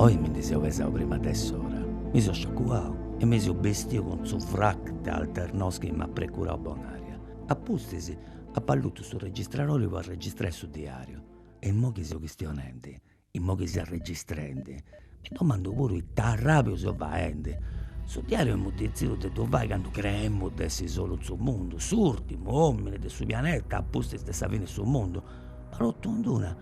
Oi mi ndi seu pesau prima de s'ora, mi seu sciacuau e mi seu bestiu cun su frac de Alternos chi m'at precurau Bonaria. A pustis Apo allutu su registradori po arregistrai su diariu e immoi chi seu chistionendi, immoi chi seu arregistrendi, mi domandu puru ita arrabiu seu faendi. Su diariu emu detzidiu de ddu fai candu creemu de essi solu in su mundu, s'urtimu omini de su pianeta apustis de sa fini 'e su mundu. Ma totu ind una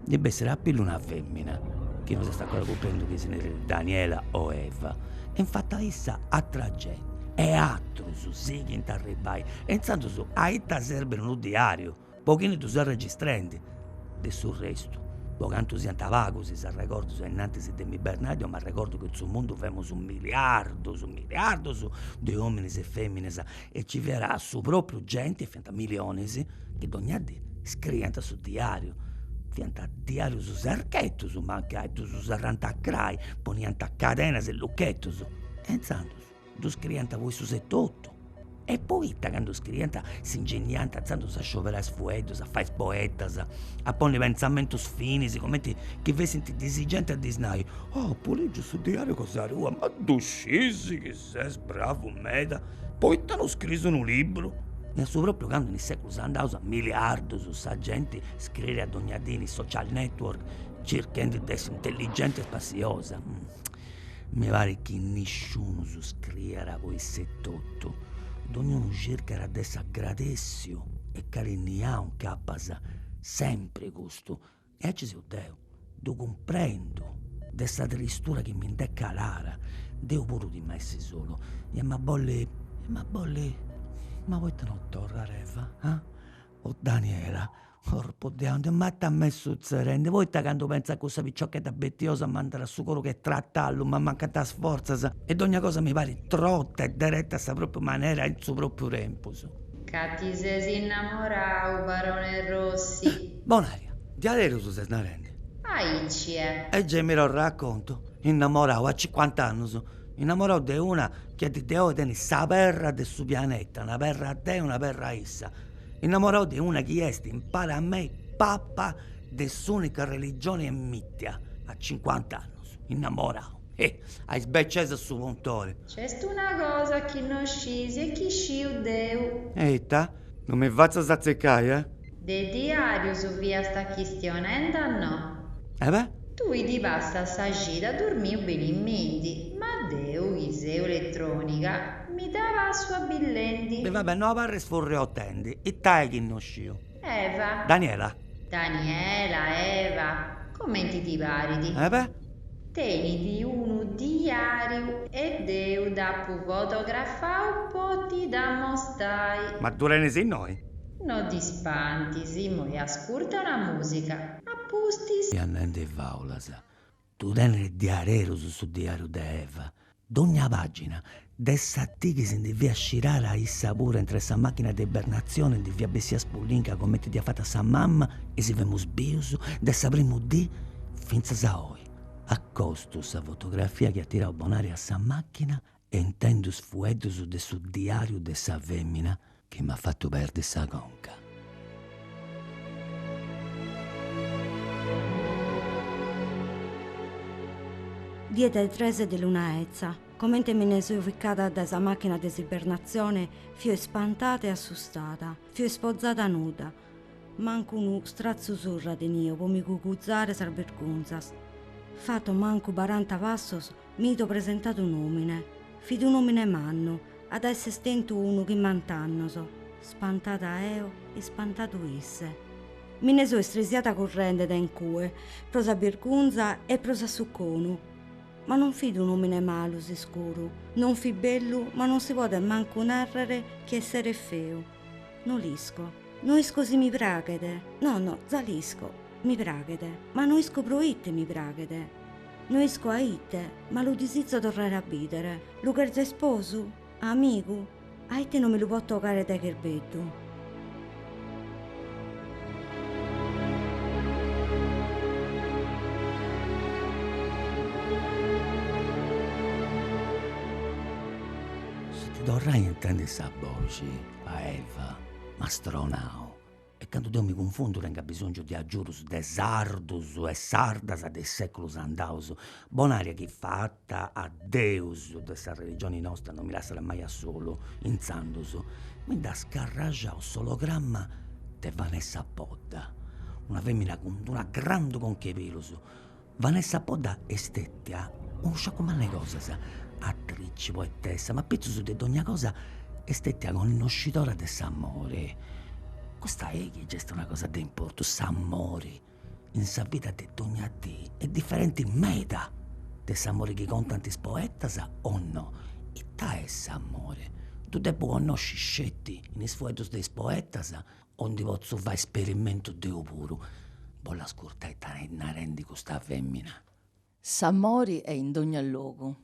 ndi bessit a pillu una femmina, chi no s'est ancora cumprendiu chi si nerit Daniela o Eva, e infatu a issa atra genti e atrus sighint a arribbai e intzandus a ita serbit unu diariu, po chini ddu ses registrendi, de su restu, po cantu siant pagus is arregordus 'e innantis de m'ibernai deu m'arregordu chi in su mundu femus miliardus, miliardus de ominis e feminas e nci fiat su propriu genti, fiant milionis, chi dogna dì scriiant su diariu, fiant diarius secretus mancai, ddus serrant a crai, poniant cadenas e luchetus e inzandus ddu scriiant po issus etotu e poita candu scriiant s'ingeniant inzandus a scioberai is fueddus, a fai is poetas, a ponni pentzamentus finis cumenti chi fessint disigendi a ddis nai, oh apu ligiu su diariu cosa tua, ma ddu sciis chi Ses bravu meda, poita no scriis unu libru? E a su propriu candu in is seculus andaus a miliardus sa genti scriiat dogna dì in is social network circhendi de essi intelligenti e spassiosa. Mi parit chi nisciunus scriiat po issu etotu, dognunu circat de essi agradessiu e carinniau, ncapas sempri custu E aici seu deu, ddu cumprendu, de sa tristura chi mi nd'est calada, deu puru timu a essi solu, emu a bolli, ma poita no torrat Eva, ah, o Daniela, corpu de aundi, ma ita m'est sutzerendi, poita candu pentzu a cussa piciochedda betiosa m'andat su coru che tratallu m'ammancant is fortzas e dogna cosa mi parit trotta e deretta a sa propriu manera e in su propriu tempus. Ca ti ses innamorau, barone Rossi. Bonaria, diaderus ses narendi? Aici est. E gei mi ddu raccontu, innamorau a cincuant'annus, innamorau de una chi a dì de oi tenit sa perra de su pianeta, una perra deu, una perra issa, innamorau de una chi est impari a mei papa de s'unica religioni ammitia, a cincuant'annus, innamorau, he, a is becesas su puntori. Nc'est una cosa chi no sciis e chi sciu deu. E ita? Non mi fatzas atzicai, eh! De diàrius fiast chistionende a no. E beh! Tui ti passas sa cida durmiu benimenti, ma deu chi seu eletròniga mi dda passu abillendi. E va bè, no abarris furriotendi, ita est chi no sciu. Eva. Daniela. Daniela, Eva, comenti ti parit. E beh! Tenit unu diàriu e deu dd'apu fotografau po ti dd'ammostai. Ma ddu tenis innoi? No t'ispantis, immoi ascurta una musica. A pustis. Ses nende faulas. Tu tenes diaderus su diariu de Eva. Dogna pagina de sa dì chi si ndi fiat scirada issa puru e intre sa machina de ibernazione ndi fiat bessia spullinca comenti dd'iat fata sa mamma e si femus bius de sa primu dì fintzas a oi. Acostu sa fotografia chi at tirau Bonaria a sa machina e intendu is fueddus de su diàriu de sa fèmina chi m'at fatu perdi sa conca. Die de tres de luna etza, comente mi ne so ficada dae sa màchina de s'ibernatzione, fio ispantada e assustada. Fio ispozada nuda, mancu unu stratzu surra tenia pro mi cuguzare sas bergunzas. Fato mancu baranta passos, Mi do presentat un'omine. Fit un'omine mannu, at a esser tentu unu chimbant'annos. Spantada eo, ispantadu isse. Mi ne so istresiada currende de incue, pro sa birgunza e pro s'assuconu. Ma non fit un'omine malu, s'iscuru, non fit bellu ma non si podet mancu narrer chi esseret feu. No l'isco. No isco si mi praghet. No, no, za l'isco. Mi praghet. Ma no isco pro ite mi praghet. No isco a ite, ma lu disizo torrare a bìdere. Lu cherzo isposu? Amigu? A ite no mi lu potzo 'ogare dae cherbeddu. Su de torrai a intendi sa boxi, a Eva m'at stronau, e candu deu mi cunfundu tengu abisongiu de agiudus de sardus e sardas de is seculus andaus, Bonaria chi fata a deus de sa religioni nosta non mi lassat mai a solu, intzandus mi nd'at scarraxau s'ologramma de Vanessa Podda, una femina cun d'una grandu conch'e pilus, Vanessa Podda est stètia unu sciacu mannu 'e cosas, atrici, poetessa, ma pitzus de dogna cosa est stètia connoscidora de s'amore. Custa eja ge est una cosa de importu, s'amore in sa vida de dogna dì est diferenti meda de s'amore chi contant is poetas o no. Ita est s'amore? Ddu depu connosci sceti in is fueddus de is poetas O ndi potzu fai sperimentu deu puru? Boll'ascurtai it'est narendi custa femina. S'amori est in dogna logu.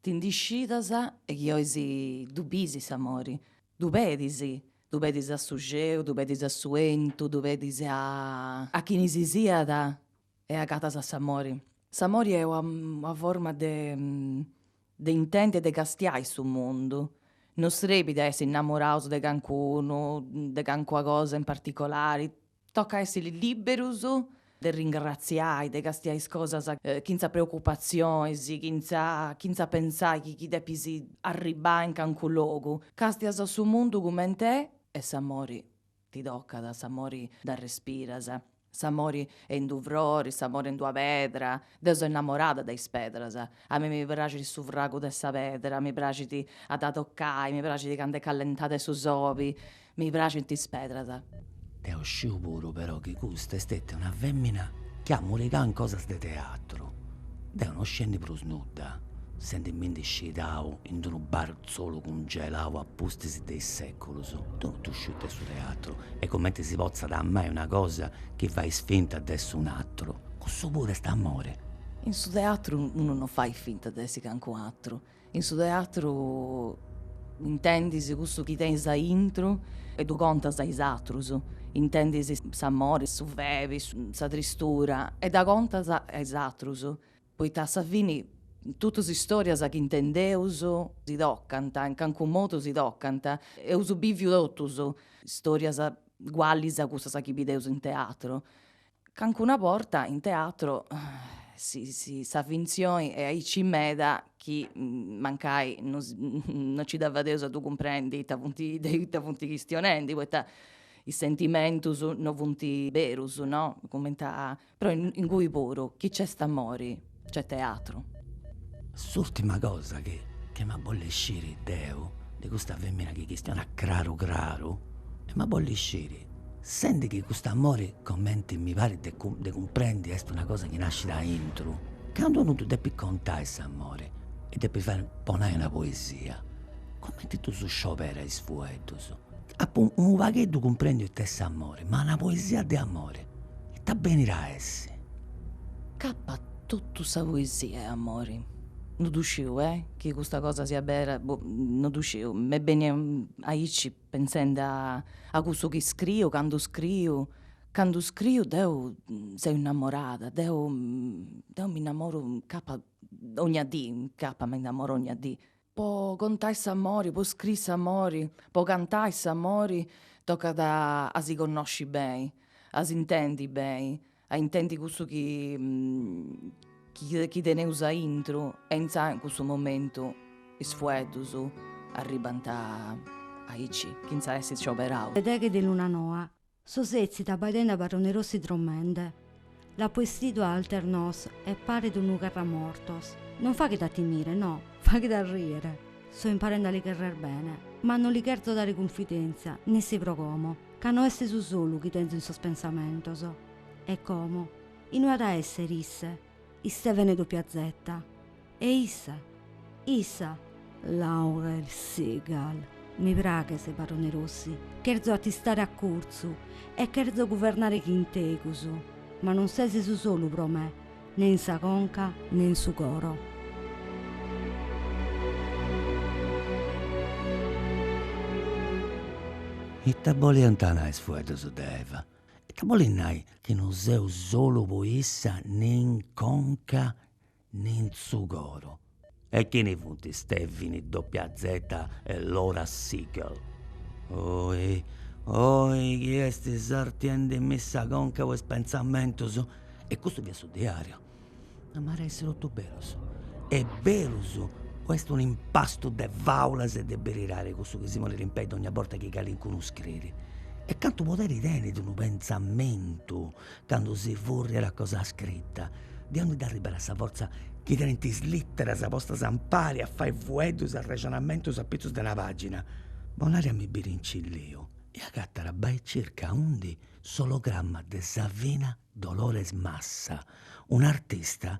Ti ndi scidas e chi 'ois ddu bis s'amori. Ddu pedis. Ddu pedis a su xeu, ddu pedis a su 'entu, ddu pedis a. A chini si siat e agatas a s'amori. S'amori est una forma de de intendi e de castiai su mundu, non srebit a essi innamoraus de cancunu, de cancuna cosa in particolari, tocat a essi liberus de ringratziai, de castiai is cosas chintza preocupazionis, chintza chintza pentzai chi chi depis arribbai in cancu logu, castias su mundu cumenti est e s'amori. Ti tocat s'amori dd'arrespiras, s'amori est in d'u frori, s'amori est in d'ua pedra, deu seu innamorada de is pedras, a mei mi praxit su fragu de sa pedra, mi praxit a dda tocai, mi praxit candu est callentada 'e su sobi, mi praxint is pedras. Deu sciu puru però chi custa est stetia una femina chi at murigau in cosas de teatru, deu no sciendi prus nudda, sendimindi scidau in d'unu bar Solu cungelau a pustis de is seculus. Deu no sciu it'est su teatru e comenti si potzat amai una cosa chi fait finta de essi un'atru. Cussu puru est amori. In su teatru unu no fait finta de essi cancu atru. In su teatru intendis cussu chi tenis a intru e ddu contas a is atrus. Intendis s'amori, su febi, sa tristura e dda contas a is atrus. poita a sa fini totus is istorias chi intendeus si tocant, in calincunu modu si tocant, eus biviu totus istorias ugualis a cussas chi bideus in teatru, calincuna borta in teatru si sa finzioni est aici meda chi mancai no si no ci dda fadeus a ddu cumprendi ita funt de ita funt chistionendi, poita is sentimentus no funt berus no, cumenti a Però ingui puru chi c'est amori c'est teatru. S'ùrtima cosa chi chi emu a bolli sciri deu de custa fèmina chi chistionat craru craru emu a bolli sciri sendi chi cust'amori comenti mi parit de de cumprendi est una cosa chi nascit aintru candu unu ddu depit contai s'amori e depit fai po nai una poesia cumenti ddus scioberat is fueddus. Apu unu pagheddu cumprendiu ita est s'amore, ma una poesia de amore ita benit a essi? Capat totu sa poesia est amore, no ddu sciu e, chi custa cosa siat bera, boh, no ddu sciu, m'est bennia aici pentzendi a a cussu chi scriu, candu scriu, candu scriu deu seu innamorada, deu deu m'innamoru, capat dogna dì, capat m'innamoru 'ogna dì Po contai s'amori, po scrii s'amori, po cantai s'amori tocat a si connosci beni, a s'intendi beni, a intendi cussu chi chi teneus aintru e intzà in cussu momentu is fueddus arribant aici chentza essi scioberaus. Deghe de luna noa So sètzida abbaidende a Barone Rossi dromende, L'apo estidu a Alternos e paret unu carramortos. Non faghet a timire, no, faghet a rìere. So imparende a li cherrer bene, ma no li cherzo dare cunfidèntzia, nessi pro como, ca no est su solu chi tenzo in sos pensamentos. E como? Inue at a èssere isse? Istevene doppia zeta. E issa, issa! Laurel Segal, Mi praghes, barone Rossi, cherzo a t'istare a curtzu e cherzo guvernare chin tegus, ma non ses su solu pro me, ne in sa conca ne in su coro. Ita boliant nai is fueddus de Eva? Ita bolit nai chi non seu solu pro issa ne in conca ne in su coro. E chini funt Stevini, Doppia Zeta e Laura Siegel? Oi, oi, chi est sartiendi·mi sa conca po is pentzamentus? E custu fiat su diariu. Ma at a essi totu berus? Est berus o est un impastu de fàulas e de beridadi cussu chi si ponit in pei dogna borta chi calincunu scriit? E cantu poderi tenit unu pentzamentu candu si furriat a cosa scrita, de aundi nd'arribat sa fortza chi tenint is literas postas ampari a fai fueddus arrexonamentus a pitzus de una pagina? Bonaria mi biit incilliu e agatat bai circa aundi s'ologramma de Savina Dolores Massa, un'artista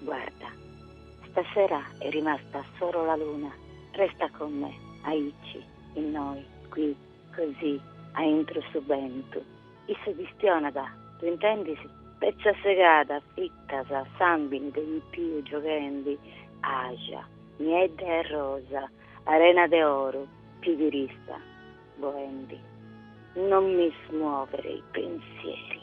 Guarda, stasera è rimasta solo la luna, resta con me, aici, innoi, qui, così, aintru su bentu. Issu chistionat, ddu intendis? Petza segada a fitas, sambini de pipiu gioghendi, àxia niedda e rosa, arena de oru, pibirista boendi. Non mi smuovere i pensieri.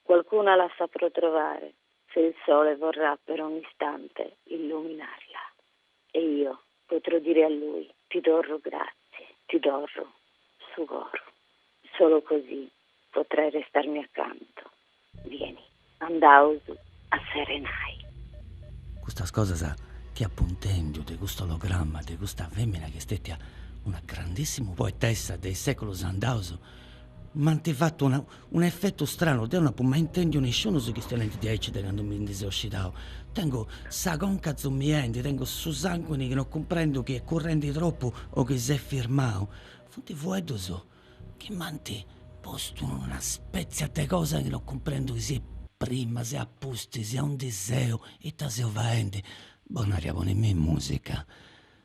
Qualcuna la saprò trovare se il sole vorrà per un istante illuminarla e io potrò dire a lui ti torru grazie, ti torru su coru. Solo così potrai restarmi accanto, vieni, andaus a serenai. Custas cosas chi apu intendiu de cust'ologramma de custa femina chi est stetia una grandissima poetessa de is seculus andaus m'ant fatu una Unu effetu stranu, deu no apu mai intèndiu nisciunus chistionendi diaici de candu mi ndi seu scidau. Tengu sa conca zumiendi, tengu su sanguini chi no cumprendu chi est currendi tropu o chi s'est firmau. Funt fueddus chi m'ant postu in una spètzia de cosa chi no cumprendu chi siat prima, siat apustis, aundi seu, ita seu faendi. Bonaria, ponimì musica.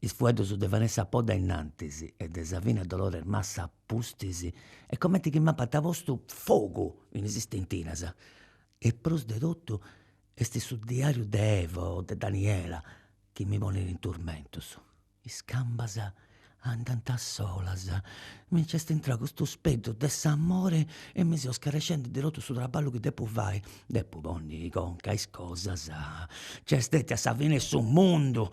Is fueddus de Vanessa Podda innantis e de Savina Dolores Massa a pustis est comenti chi m'apant postu fogu in is stentinas. E prus de totu est su diariu de Eva o de Daniela chi mi ponit in turmentus. Is cambas andant solas, mi nc'est intrau custu speddu de s'amori e mi seu scarescendi de totu su traballu chi depu fai Depu ponni conca a is cosas, nc'est stetia sa fini 'e su mundu,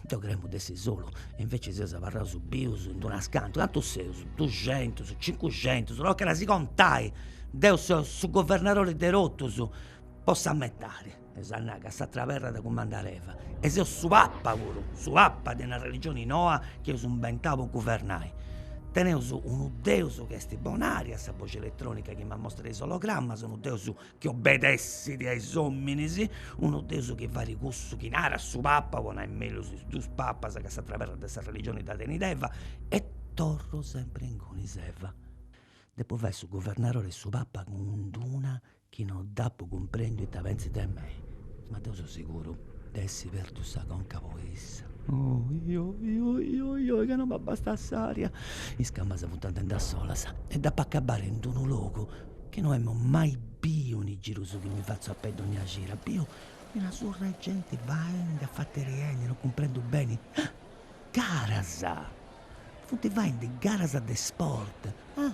deu creemu de essi solu e invecias seus abarraus bius in d'unas cantu, cantu seus, duxentus, cincuxentus, tocat a si contai, deu seu su governadori de totus, po sa metadi, eus a nai ca s'atera perra dda cumandat Eva e seu su papa puru, su papa de una religioni noa chi eus inventau po guvernai Teneus unu deus chi est Bonaria, sa boxi eletrònica chi m'amostra is ologramas, unu deus chi obedessit a is òminis, unu deus chi farit cussu chi narat su papa, po nai mellus is dus papas ca s'atra perra de sa religioni dda tenit Eva, e torru sempri ingunis, Eva. Depu fai su guvernarori e su papa cun d'una chi no dd'apu cumprendiu ita pentzit de mei, ma deu so seguru de essi pertu sa conca po issa. Oi, oi, oi, oi, oi, ca no m'abastat s'aria. Is cambas funt andendi a solas e dd'apu acabbada in d'unu logu chi no emu mai biu in is girus chi mi fatzu a pei dogna cira. Biu una surra 'e genti faendi e afateriendi, no cumprendu beni. Garas! Funt faendi garas de sport. Ah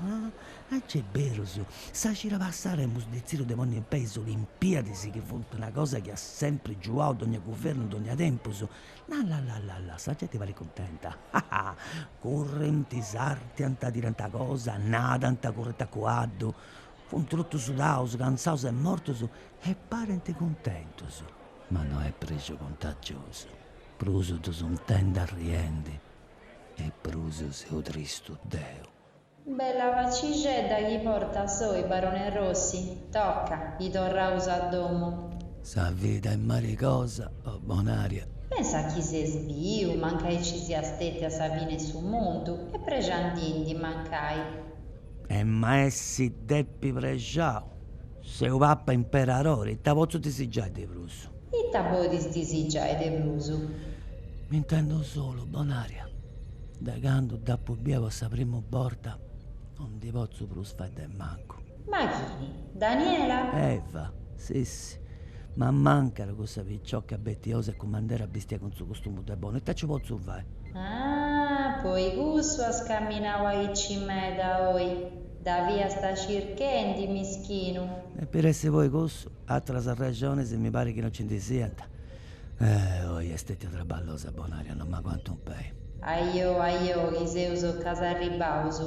ah gei est berus sa cira passada emus detzidu de ponni in pei is olimpiadis chi funt una cosa chi at sempri giuau dogna guvernu dogna tempus. La la la la la sa genti parit cuntenta. Ah ah currint sartiant tirant cosa nadant currint a cuaddu. Funt totus sudaus cantzaus e mortus e parint cuntentus. Ma no est prexu cuntagiosu. Prus ddus intendu arriendi. e prus seu tristu deu. Bella facixedda chi portas oi Barone Rossi, tocca, chi torraus a domo. Sa vida est marigosa, o Bonaria. Pensa chi ses biu, mancai nci sias stetiu a sa fine 'e su mundu, e prexandindi, mancai. Em'a essi depi prexau, seu papa imperarori, ita potzu disigiai de prus. Ita podis disigiai de prus? M'intendu solu, Bonaria. Dae candu dd'apu bia po sa primu borta no ndi potzu prus faeddai mancu. Ma chini? Daniela? Eva. Sissi, m'ammancat cussa picioca betiosa e cumandera bistia cun su costumu de bonu. Ita nci potzu fai? Ah, po i cussu as caminau aici meda oi? Dda fiasta circhendi, mischinu. E po essi po i cussu? atras arrexonis mi parit chi no nci ndi siant. Oi est stètia traballosa, Bonaria, no m'aguantu in pei. Ajo, ajo, chi seus acant'e arribbaus.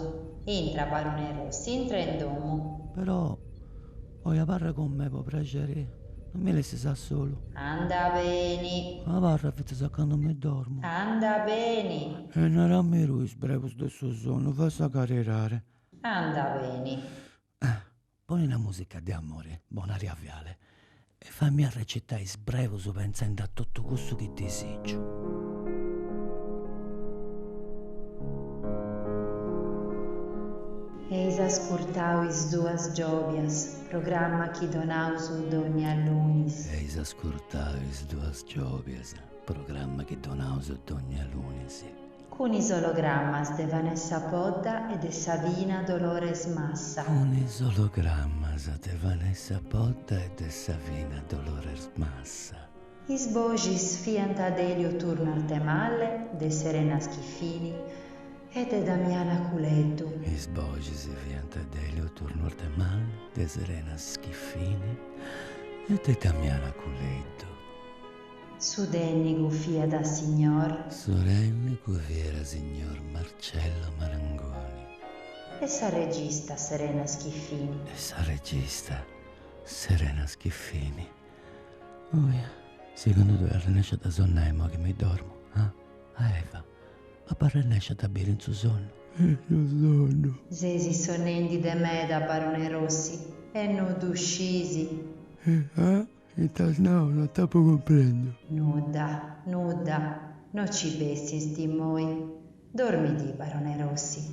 Intra, barone Rossi, intra in domu. Però, oi abarra cun mei, po prexeri, no mi lessis a solu. Anda beni. Abarra fintzas a candu mi dormu. Anda beni. E narammi tui is brebus de su sonnu, fai sa caridadi. Anda beni. Poni una musica de amori, Bonaria Viale, e fammi arrecitai is brebus pentzendi a totu cussu chi disìgiu. Eis ascurtau Is Duas Giòbias, programma chi donaus dònnia lunis. Eis ascurtau Is Duas Giòbias, programma chi donaus dònnia lunis. Cun is ologrammas de Vanessa Podda e de Savina Dolores Massa. Cun is ologrammas de Vanessa Podda e de Savina Dolores Massa. Is boxis fiant de Elio Turno Artemalle, de Serena Schiffini e de Damiana Culeddu. Is boxis fiant de Elio Turno Artemalle, de Serena Schiffini e de Damiana Culeddu. Su tènnicu fiat signor. Su tènnicu fiat signor Marcello Marangoni. E sa regista Serena Schiffini. E sa regista Serena Schiffini. Oja, segundu tui ap'a arrennesci a sonnai imoi chi mi dormu, ah? A Eva, ap'a arrennesci a dda a biri in su sonnu? In su sonnu? Sesi sonnendi de meda, barone Rossi, e no ddu scisi? E ah? Ita as nau? No t'apo cumprendu. Nudda, nudda, no ci pensisti immoi. Dormidi, barone Rossi.